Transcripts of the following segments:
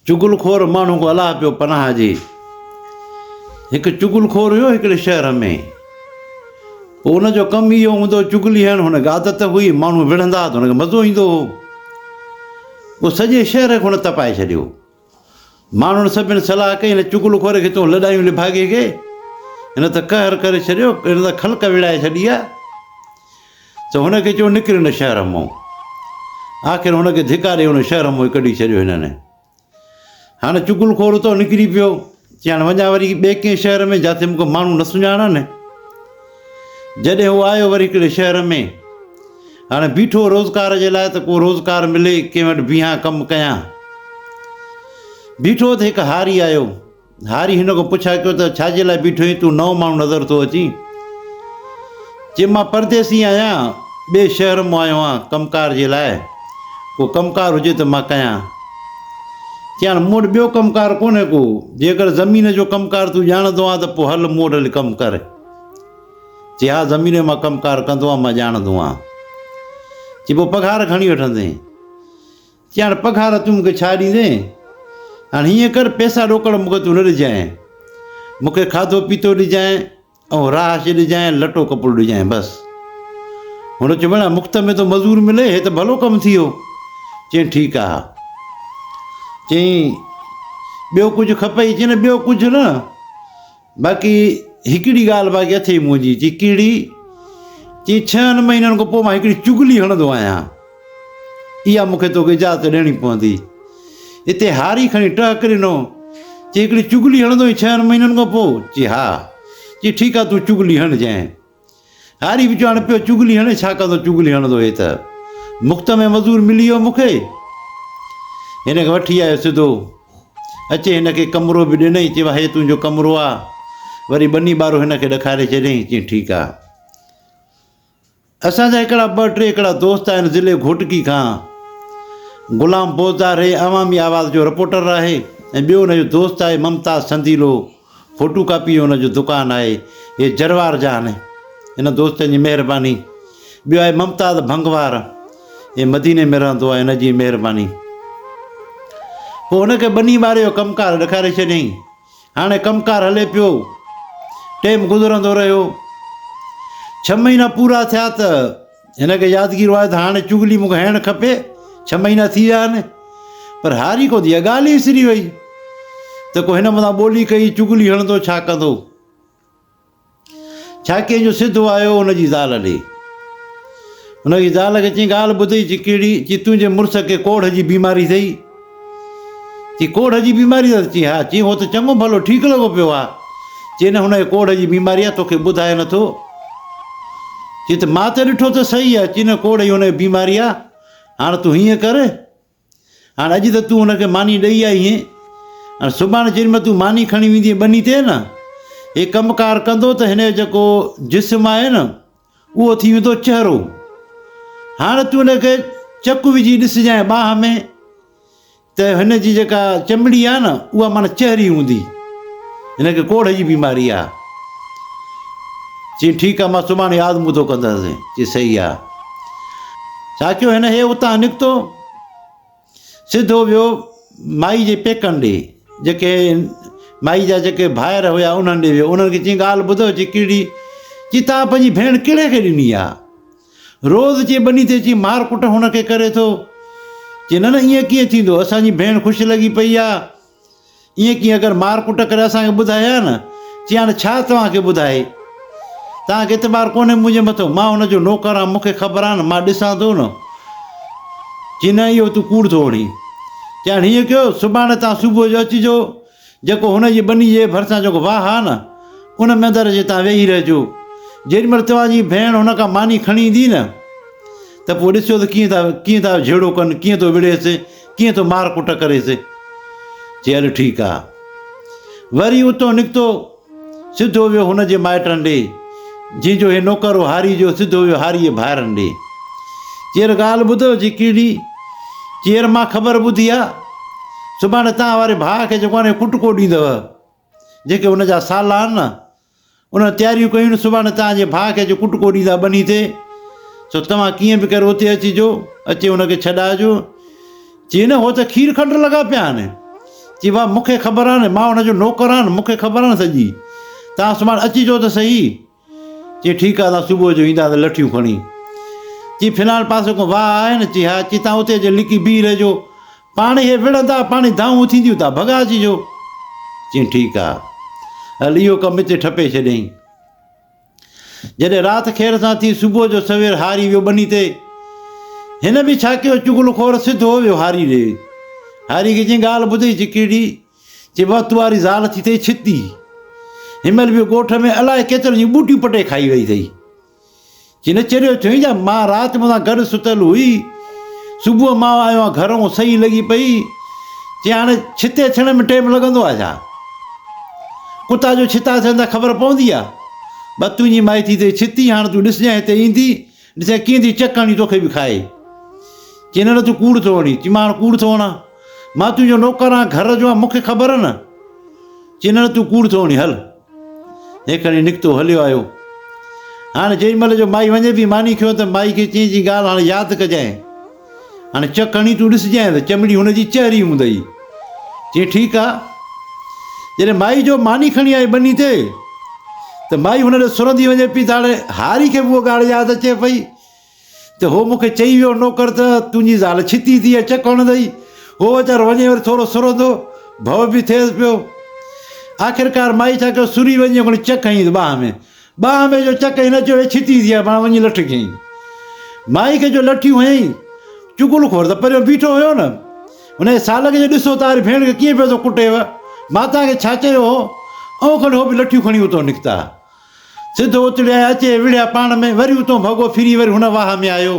چغل خور ماڻهو ڪو الاهه پيو پناهه ڏي. هڪ چغل خور هيو هڪڙي شهر ۾. پوء ان جو ڪم اهو هوندو هو چغلي هڻڻ هن کي عادت هئي ماڻهو وڙهندا ته هن کي مزو ايندو هو. پوء سڄي شهر کي هن تپائي ڇڏيو. ماڻهن سڀن صلاح ڪئي هن چغل خور کي تون لڏايون لڀاڳي کي. هن ته قهر ڪري ڇڏيو هن ته خلق ويڙهائي ڇڏي آهي. ته هن کي چيو نڪر هن شهر مئون. آخر هن کي ڌڪا ڏئي ان شهر مئون ڪڍي ڇڏيو هنن. هاڻي چغل خور اتان نڪري پيو. چيائين وڃان وري ٻئي ڪنهن شهر ۾ جاٿي مون کي ماڻهو نه سڃاڻن. جڏهن هو آيو وري هڪڙي شهر ۾ هاڻي بيٺو روزگار جي لاء ته ڪو روزگار ملي ڪنهن وٽ بيهان ڪم ڪيان. بيٺو ته هڪ هاري آيو. هاري هن کان پڇا ڪيو ته ڇا جي لاء بيٺو آهين، تون نئون ماڻهو نظر ٿو اچين؟ چي مان پرديسي آهيان، ٻئي شهر مان آيو آهيان ڪم ڪار جي لاء، ڪو ڪم ڪار هجي ته مان ڪيان. چيائين مون وٽ ٻيو ڪم ڪار ڪونهي ڪو، جيڪر زمين جو ڪم ڪار تون ڄاڻندو آهين ته پوء هل مون وٽ هلي ڪم ڪر. چي ها زمين جو مان ڪم ڪار ڪندو آهيان، مان ڄاڻندو آهيان. چي پوء پگهار گهڻي وٺندين؟ چيائين هاڻ پگهار تون مون کي ڇا ڏيندين؟ هاڻ هيئن ڪر پئسا ڏوڪڙ مون کي تون نه ڏجانء. مون کي کاڌو پيتو ڏجانء ۽ رهائش ڏجانء، لٽو ڪپڙو ڏجانء بس. هن چيو ڀيڻا مفت ۾ ٿو مزور ملي هي ته ڀلو ڪم ٿيو. چيائين ٺيڪ آ. چيائين ٻيو ڪجهه کپئي؟ چيائين ٻيو ڪجهه نه. باقي هڪڙي ڳالهه باقي اٿئي منهنجي چي ڪهڙي چي ڇهن مهينن کان پوء مان هڪڙي چغلي هڻندو آهيان اها مون کي توکي اجازت ڏيڻي پوندي هتي هاري کڻي ٽهڪ ڏنو چي هڪڙي چغلي هڻندو ڇهن مهينن کان پوء چي ها چي ٺيڪ آهي تون چغلي هڻجانء هاري به چوڻ پيو چغلي هڻي ڇا ڪندو چغلي هڻندو هي ته مفت ۾ مزور ملي ويو مون کي هن کي وٺي آيو سڌو اچي هن کي ڪمرو به ڏنئي چيو هي تنهنجو ڪمرو آ وري ٻني ٻارو هن کي ڏکاري ڇڏيائين چي ٺيڪ آ اسان جا هڪڙا ٻه ٽي هڪڙا دوست آهن ضلع گهوٽڪي کان غلام بوزدار هي عوامي آواز جو رپورٽر آهي ۽ ٻيو هن جو دوست آهي ممتاز سنديلو فوٽو ڪاپي ان جو دڪان آهي اهي جروار جا آهن ان دوستن جي مهرباني ٻيو آهي ممتاز ڀنگوار اهي مديني ۾ رهندو آهي ان جي مهرباني پوء ان کي ٻني ٻاري جو ڪم ڪار ڏيکاري ڇڏيائين هاڻي ڪم ڪار هلي پيو ٽيم گذرندو رهيو ڇهه مهينا پورا ٿيا ته هن کي يادگير آهي ته هاڻي چغلي مون کي هڻڻ کپي، ڇهه مهينا ٿي ويا آهن. پر هاري ڪوندي اها ڳالهه ئي وسري وئي ته ڪو هن مٿان ٻولي ڪئي، چغلي هڻندو ڇا ڪندو؟ ڇا ڪنهن جو سڌو آيو هن جي زال ڏي. هن جي زال کي چيائين ڳالهه ٻڌ چي ڪهڙي؟ چي تنهنجي مڙس کي ڪوڙهه جي بيماري اٿئي. چي ڪوڙهه جي بيماري آهي؟ چي ها. چي هو ته چڱو ڀلو ٺيڪ لڳو پيو آهي. چي نه هن کي ڪوڙهه جي بيماري آهي توکي ٻڌائي نه ٿو. چي ته مان ته ڏٺو ته صحيح آهي. چي نه ڪوڙهه ئي هن کي بيماري آهي. هاڻ تون هيئن ڪر هاڻ اڄ ته تون هن کي ماني ڏئي آئي هين هاڻ سڀاڻي جيڏي مهل تون ماني کڻي ويندين ٻني تي نه هي ڪم ڪار ڪندو ته هن جو جيڪو جسم آهي نه اهو ٿي ويندو چهرو. هاڻ تون هن کي چڪ وجهي ڏسجانء ٻانهن ۾ ته هن جي جيڪا چمڙي آهي نه اها معنيٰ چهري هوندي. هن کي ڪوڙهه جي بيماري آهي. چي ٺيڪ آهي مان سڀاڻي آزمودو ڪندس. چي صحيح آهي. ساچو هن هي اتان نڪتو. سڌو ويو مائي جي پيڪن ڏي، جيڪي مائي جا جيڪي ڀائر هيا انهن ڏي ويو، انهن کي چيائين ڳالهه ٻڌو چي ڪهڙي، چي توهان پنهنجي ڀيڻ ڪهڙي کي ڏني آ، روز چي ٻني تي چي مار ڪٽ هن کي ڪري ٿو، چي نه نه ائين ڪيئن ٿيندو، اسان جي ڀيڻ خوش لڳي پئي آ، ايئن ڪيئن اگر مار ڪٽ ڪري اسان کي ٻڌائي ها نه چي هاڻي ڇا توهان کي ٻڌائي توهان کي اعتبار ڪونهي منهنجي مٿو مان هن جو نوڪر آهيان مون کي خبر آهي نه مان ڏسان ٿو نه چي نه اهو تون ڪوڙ ٿو وڙهين چي هاڻي هيئن ڪيو سڀاڻي توهان صبح جو اچجو جيڪو هن جي ٻني جي ڀرسان جيڪو واهه آهي نه ان ۾ اندر اچي توهان ويهي رهجو جيڏي مهل توهان جي ڀيڻ هن کان ماني کڻي ايندي نه ته پوء ڏسجو ته ڪيئن ٿا ڪيئن ٿا جهيڙو ڪن ڪيئن ٿو وڙهيس ڪيئن ٿو مار ڪٽ ڪريس. چي هل ٺيڪ آ. وري اتو نڪتو سڌو ويو هن جي مائٽن ڏي جنهن جو هي نوڪر هو هاري جو سڌو ويو هاري جي ڀائرن ڏي. چير ڳالهه ٻڌو چي ڪهڙي؟ چير مان خبر ٻڌي آ سڀاڻي توهان واري ڀاء کي جيڪو آهي ڪٽڪو ڏيندو جيڪي هن جا سالا آهن نه انهن تياريون ڪيون نه سڀاڻي توهان جي ڀاء کي اچي ڪٽڪو ڏيندا ٻني تي، سو توهان ڪيئن به ڪري اتي اچجو، اچي ان کي ڇڏائجو. چي نه هو ته کير کنڊ لڳا پيا آهن. چي واهه مون کي خبر آهن، مان ان جو نوڪر آهن، مون کي خبر آهن سڄي. توهان سڀاڻي اچجو ته سهي. چي ٺيڪ آهي اسان صبح جو اينداسين لٺيون کڻي. چي فلاڻ پاسي ڪو واهه آهي نه؟ چي ها. چي توهان اتي اچي لڪي بيهي رهجو. پاڻ هي وڙهندا، پاڻ ئي دانهون اٿينديون ٿا ڀڳائجي جو. چيائين ٺيڪ آ، هل اهو ڪم هتي ٺپي ڇڏيائين. جڏهن رات خير سان ٿي، صبح جو سوير هاري ويو ٻني تي. هن به ڇا ڪيو، چغل خور سڌو ويو هاري ڏي. هاري کي چيائين ڳالهه ٻڌئي چڪيڙي، چي وات واري زال ٿي اٿئي ڇتي. هن مهل به ڳوٺ ۾ الاء ڪيترن جون ٻوٽيون پٽي کائي ويئي اٿئي. جنھن چريو چيائين جا مان رات مون سان گڏ ستل ھئي. صبح مان آيو آھيان گھر ھون سھي لڳي پئي. چيائين ھاڻي ڇتي ٿيڻ ۾ ٽيم لڳندو آھي ڇا؟ ڪتا جو ڇتا ٿين ٿا خبر پوندي آھي. بس تنھنجي مائي ٿي تي ڇتي ھاڻ تون ڏسجانء ھتي ايندي ڏسجانء ڪيئن ٿي چڪ ھڻي توکي به کائي. چيائين نه نه تون ڪوڙ ٿو ھڻين. چيائين مان ھاڻ ڪوڙ ٿو ھڻان. مان تنھنجو نوڪر آھيان گھر جو آھيان مون کي خبر نه. چيائين نه نه تون ڪوڙ ٿو ھڻين ھل. هي کڻي نڪتو هليو آيو. هاڻي جيڏي مهل جو مائي وڃي پي ماني کيو ته مائي کي چين جي ڳالهه هاڻي ياد ڪجانء. هاڻي چڪ هڻي تون ڏسجانء ته چمڙي هن جي چهري هوندئي. چين ٺيڪ آ. جڏهن مائي جو ماني کڻي آئي ٻني تي ته مائي هن ڏي سرندي وڃي پي ته هاڻي هاري کي به اهو ڳالهه ياد اچي پئي ته هو مون کي چئي ويو نوڪر ته تنهنجي زال ڇتي ٿي اچ ڪونه ڏئي. هو ويچارو وڃي وري ٿورو سرندو ڀؤ به ٿئيس پيو. آخرڪار مائي ڇا ڪيو سري وڃي هڪڙي چڪ هنئيس ٻانهن ۾. ٻانهن ۾ جو چڪ هنئي نه چيو هي ڇتي ٿي آ پاڻ وڃي لٺ کنئي. مائي کي جو لٺيون هنئي چغل خور ته پريو بيٺو هيو نه انهيء سالڪ جي ڏسو ته آري ڀيڻ کي ڪيئن پيو ٿو ڪٽيو ماتا کي ڇا چيو هو ائون ڪنهن هو به لٺيون کڻي اتو نڪتا. سڌ اوتڙيء اچي وڙهيا پاڻ ۾، وري اتون ڀڳو ڦري وري هن واهه ۾ آيو.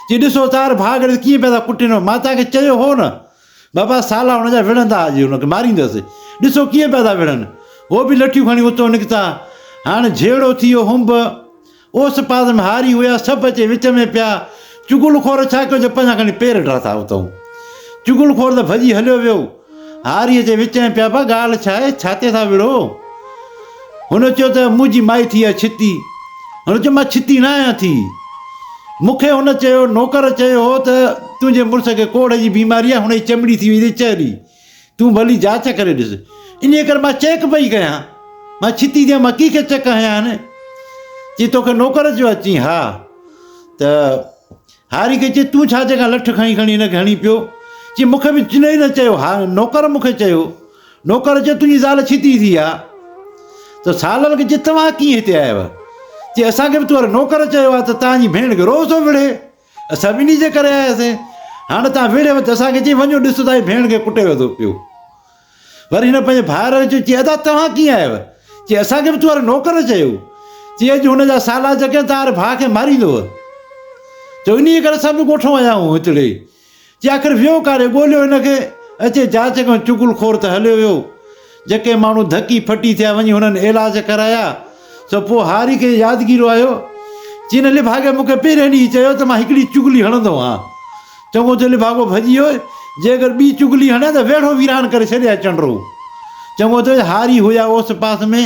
چي ڏسو تار ڀاڳڙ ڪيئن پيا ٿا ڪٽين، مان توهان کي چيو هو نه! بابا سالا هن جا وڙهندا ها جي هن کي ماريندس. ڏسو ڪيئن پيا ٿا وڙهن. هو به لٺيون کڻي اتون نڪتا. هاڻ جهيڙو ٿي ويو هنب. اوس پاس ۾ هاري هيا سڀ اچي وچ ۾ پيا. چغل خور ڇا ڪيو جو پنهنجا کڻي پير ڊاٿا اتئون. چغل خور ته ڀڄي هليو ويو. هاريء جي وچ ۾ پيا به ڳالهه ڇا آهي، ڇاتي ٿا وڙهو؟ هن چيو ته منهنجي مائي ٿي آهي ڇتي. هن چيو مان ڇتي نه آهيان ٿي. مون کي هن چيو نوڪر چيو هو ته تنهنجي مڙس کي ڪوڙهه جي بيماري آهي، هن جي چمڙي ٿي وئي اٿئي چهري. تون ڀلي جاچ ڪري ڏس. انهيء ڪري مان چيڪ پئي ڪيان. مان ڇتي ٿي آهيان، مان ڪيئن چڪ هنيان؟ چي توکي نوڪر چيو آهي؟ چيائين ها ته. هاري کي چيس تون ڇا جيڪا لٺ کڻي کڻي هن کي هڻي پيو. چي مون کي به چنهي نه چيو ها نوڪر مون کي چيو. نوڪر چيو تنهنجي زال ڇتي ٿي آ. ته سالر کي چيس توهان ڪيئن هتي آيا هيو. چي اسان کي به توهر نوڪر چيو آ ته تنهنجي ڀيڻ کي روز ٿو وڙهي. اسان به انهي جي ڪري آياسين. هاڻ تنهن وڙهيو ته اسان کي چئي وڃو ڏس تنهنجي ڀيڻ کي ڪٽي ويو ٿو پيو. وري هن پنهنجي ڀائر کي چيو، چي ادا توهان ڪيئن آهيو؟ چي اسان کي به تو وارو نوڪر چيو. چي اڄ هن جا سالار جيڪڏهن توهاري ڀاء کي ماريندو هو ته انهيء ڪري اسان به ڳوٺ مان آيا آهيون هتڙي. چي آخر ويو ڪاڏي؟ ڳوليو هن کي اچي جاچ ڪيون چغل خور ته هليو ويو. جيڪي ماڻهو ڌڪي ڦٽي ٿيا وڃي هنن علاج ڪرايا. سو پوء هاري کي يادگيرو آيو، جنهن لڀاڳي مون کي پهرئين ڏينهن ئي چيو ته مان هڪڙي چغلي هڻندو هان. چڱو ٿيو لڀاڳو ڀڄي ويو، جي اگر ٻي چغلي هڻي ته ويڙهو ويران ڪري ڇڏي ها چنڊرو. چڱو ٿيو هاري هيا اوس پاس ۾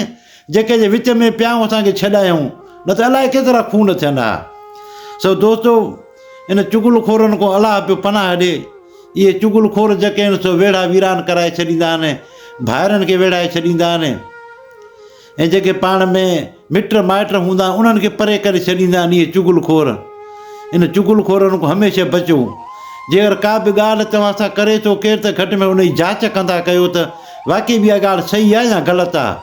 جيڪي جي وچ ۾ پيا هون اسان کي ڇڏايائون، نه ته الائي ڪيترا خون ٿين ها. سو دوستو! ان چغل خورن کان الله پيو پناهه ڏي. اهي چغل خور جيڪي آهن سو ويڙها ويران ڪرائي ڇڏيندا آهن، ڀائرن کي ويڙهائي ڇڏيندا آهن. ۽ جيڪي پاڻ ۾ مٽ مائٽ هوندا آهن انهن کي پري ڪري ڇڏيندا آهن اهي چغل خور ان چغل خورن کان هميشه بچو جيڪر ڪا به ڳالهه توهان سان ڪري ٿو ڪير ته گهٽ ۾ ان جي جاچ ڪندا ڪيو ته واقعي به اها ڳالهه صحيح آهي يا غلط آهي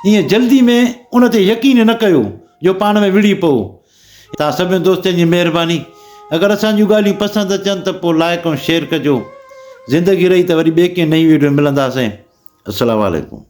ائين جلدي ۾ ان تي يقين نه ڪيو جو پاڻ ۾ وڙهي پئو توهان سڀني دوستن جي مهرباني اگر اسان جون ڳالهيون پسند اچن ته پوء لائق ۽ شيئر ڪجو زندگي رهي ته وري ٻئي ڪنهن نئين ويڊيو ۾ ملنداسين السلام عليڪم